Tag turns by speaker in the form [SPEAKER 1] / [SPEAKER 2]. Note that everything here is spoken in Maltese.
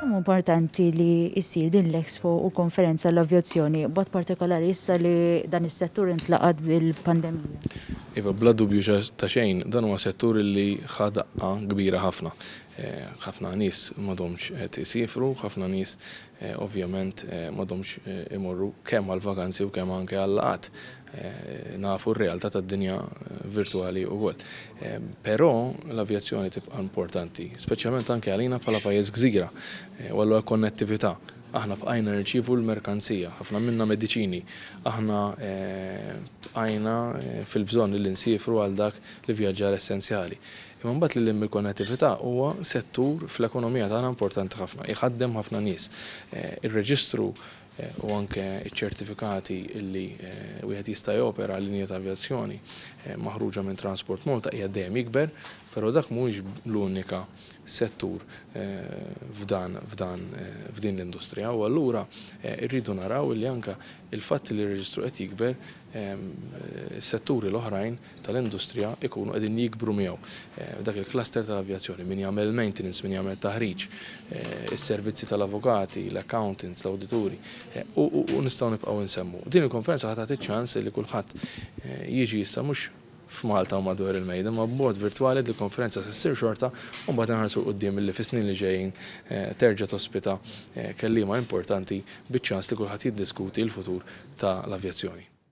[SPEAKER 1] Kemm hu importanti li ssir din l-Expo u konferenza għall-avjazzjoni, b'mod partikolari issa li dan is-settur intlaqat bil-pandemija? Iva, bla
[SPEAKER 2] dubju ta' xejn, dan huwa settur li ħa daqqa kbira ħafna. Ħafna nies m'għadhomx qed isiefru, ħafna nies ovvjament m'għadhomx imorru kemm għall-vakanzi u kemm anke għal-laqgħat. Nafu r-realtà tad-dinja virtwali wkoll. Però l-avjazzjoni tibqa' importanti, speċjalment anke għalina bħala pajjiż gżira, u allura l-konnettività. Aħna bqajna nirċievu l-merkanzija, ħafna minnha mediċini. Aħna bqajna fil-bżonn li nsiefru għal dak l-ivvjaġġar essenzjali. Imma mbagħad lil hinn mill-konnettività huwa settur fl-ekonomija tagħna importanti ħafna, iħaddem ħafna nies. Ir-reġistru u anke ċ-ċertifikati li wieħed jista' jopera linja ta' avjazzjoni maħruġa minn Transport Malta qiegħed dejjem jikber, però dak mhuwiex l-unika settur f'dan f'dan f'din l-industrija u allura rridu naraw li anke l-fatt li r-reġistru qed jikber is-setturi l-oħrajn tal-industrija jkunu qegħdin jikbru miegħu. Dak il-cluster tal-avjazzjoni, min jagħmel il-maintenance, min jagħmel it-taħriġ, is-servizzi tal-avukati, l-accountants, l-awdituri, u nistgħu nibqgħu insemmu. Din il-konferenza ħa tagħti ċ-ċans li kulħadd jiġi issa mhux f'Malta u madwar il-mejda, imma b'mod virtwali għax il-konferenza se ssir xorta u mbagħad inħarsu 'l quddiem illi fis-snin li ġejjin terġa' tospita kelliema importanti biċ-ċans li kulħadd jiddiskuti l-futur tal-avjazzjoni.